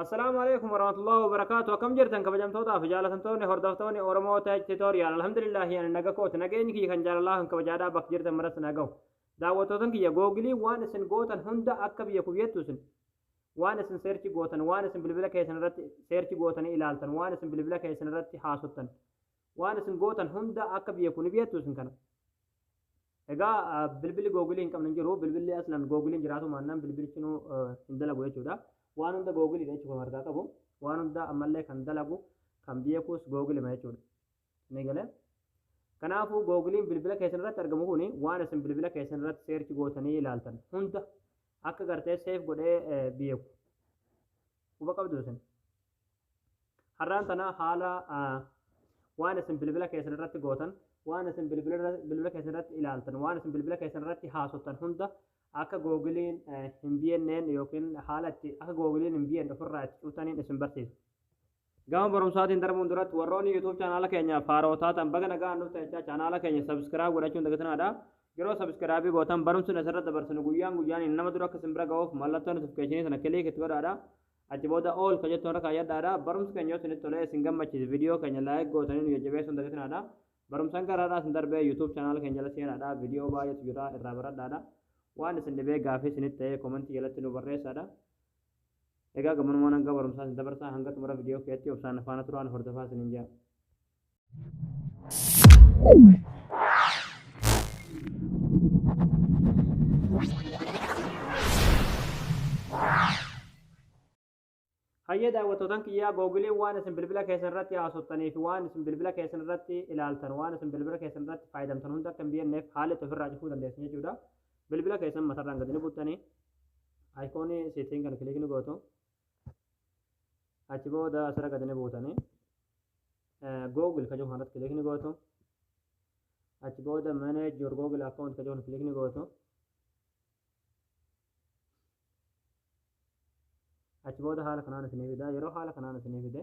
Assalaamu alaikum warahmatullahi wabarakaatu akkam jirtan kabajamtootaa fi jaalatamtoonni hordoftoonni Oromoo Tech Tutorial alhamdulillahi ani naga kooti nageenyi kiyya kan jaalalaa kan kabajaadhaa bakka jirtan maras nagahu daawwattootan kiyya googilii waan isin gootan hunda akka biyya kuyyattu isin waan isin seerchi gootan waan isin bilbila keessan irratti seerchi gootanii ilaaltan waan isin bilbila keessan irratti haasoftan Waan isin gootan hunda akka beeku ni beektu isin kana. Egaa bilbilli googilii hin qabne hin jiru. Bilbilli aslan googiliin jiraatu maannaan bilbilichinuu hin dalagu jechuudha. Waan hunda googiliidha jechuudha kan argaa qabu. Waan hunda ammallee kan dalagu kan beekuus googilima jechuudha. Ni galee? Kanaafuu googiliin bilbila keessan irratti argamu kuni waan isin bilbila keessan irratti seerchi gootanii ilaaltan hunda akka gartee seef godhee beeku. Quba qabdu isin. Har'aan tana haala waan isin bilbila keessan irratti gootan, waan isin bilbila keessan irratti ilaaltan, waan isin bilbila keessan irratti haasoftan hunda akka googiliin hin bienneen yookiin haala itti akka googiliin hin bienne ofirraa itti cuutaniin isin barsiisa. Gama barumsaatiin darbuun duratti warroonni YouTube chaanaala keenya faaroo taatan baga nagaan nuuf ta'echaa chaanaala keenya sabiskiraayib godhachuun dagatinaadha. Yeroo sabiskiraabii gootan barumsi asirratti dabarsinu guyyaan guyyaan nama dura akka isin bira ga'uuf mallattoo notifikashinii sana kiliik itti godhaadha. Achi booda all ka jettu irra kaayyadhaadha. Barumsi keenya yoo isinitti tolee isin gammachiise video keenya like gootanii nu jajjabeessuun dagatinaadha. Barumsan gara har'aa isin darbee YouTube channel keenya jala seenaadha. Video baay'eetu jira irraa baradhaadha. Waan isin dhibee gaafii isinitti ta'ee komentii jalatti nu barreessaadha. Egaa gammanumaan hanga barumsaa isin dabarsaa hanga xumura video keetti obsaan faana turaan hordofaa isinin jaa. Hayyee daawwattootaan kiyyaa googiliin waan isin bilbila keessan irratti haasoftanii fi waan isin bilbila keessan irratti ilaaltan waan isin bilbila keessan irratti fayyadamtan hunda akka hin biyenneef haala itti ofirraa cufuu dandeessu jechuudha. Bilbila keessan matarraan gadi ni buttanii ayikoonii seetiin kan kiliikni gootu achi booda asirra gadi ni buutanii google ka jiru kanarratti kilik ni gootu achi booda manage your google account ka jiru kilik ni gootu achi booda haala kanaan isinii fida yeroo haala kanaan isinii fide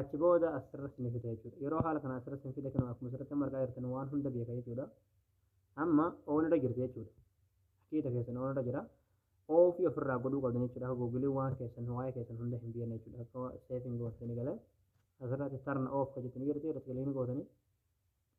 achi booda asirra isin fida jechuudha yeroo haala kana asirra isin fida kan akkuma asirratti amma argaa jirtan waan hunda beeka jechuudha amma oon irra jirti jechuudha haqiiqa keessan oon irra jira oofii ofirraa godhuu qabdan jechuudha akka googilii waan keessan waa'ee keessan hunda hin beekne jechuudha akka seefiin gootanii galan asirratti tarna oof kan jettan jirti irratti galiin gootanii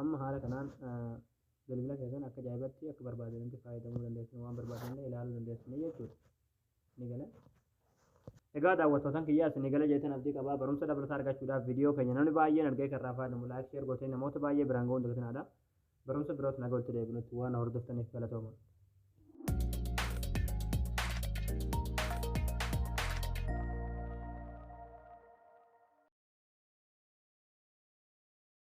Amma haala kanaan bilbila keessan akka ajaa'ibatti akka barbaadanitti fayyadamuu dandeessan waan barbaadanillee ilaaluu dandeessan jechuudha. Ni gala. Egaa daawwattootan kiyyaa isin gala jeetan abdii qabaa barumsa dabalataa argachuudhaaf viidiyoo keenya namni baay'een argee kan irraa fayyadamu laayik sheer gootee namoota baay'ee biraan ga'uun dagatinaa barumsa biroot nagaa walitti deebinutti waan hordoftaniif galatooma.